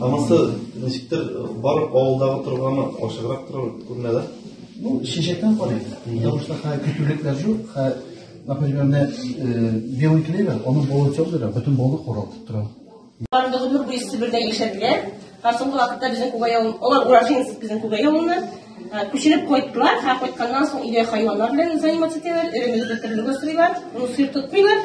Анысы ничектер барып авылдагы торганы ачыграк торып күренә дә. Бу чәчәктән карый. Яушта хә көтүлекләр җук, хә например, менә э, белый клевер, аны болыт җавдыра, бөтен болы коралтып тора. Алар да гомер буе Себердә яшәделәр. Һәм соңгы вакытта безнең Күгәй авылы, алар уроженец безнең Күгәй авылыннан. Э, күченеп кайттылар, һәм кайтканнан соң өйдә хайваннар белән заниматься итәләр, эремелек бетерелүгә сыйлар, ну, сыр тотмыйлар.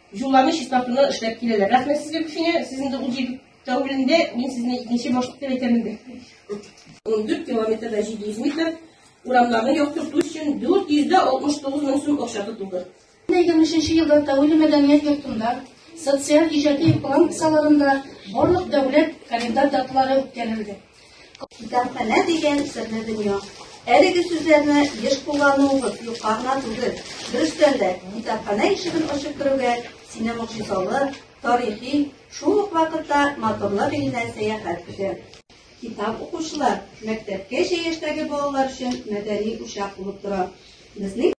Юлларны чистартуны эшләп киләләр. Рәхмәт сезгә күченә. Сез инде ул җир тәүлендә, мин сезне икенче башлык дип әйтәм инде. 14 километрда 700 метр урамнарны яктырту өчен 469 мең сум акча тотылды. 2023 елда Тәүле мәдәният йортында социаль иҗади план кысаларында барлык дәүләт календарь даталары үткәрелде. Китапханә дигән серле дөнья. Әлеге сүзләрне еш куллануыбыз юкка гына түгел. Дөрестән дә, китапханә ишеген ачып керүгә сине могҗизалы, тарихи, шул ук вакытта матурлык иленә сәяхәт көтә. Китап укучылар мәктәпкәчә яшьтәге балалар өчен мәдәни учак булып тора. Безнең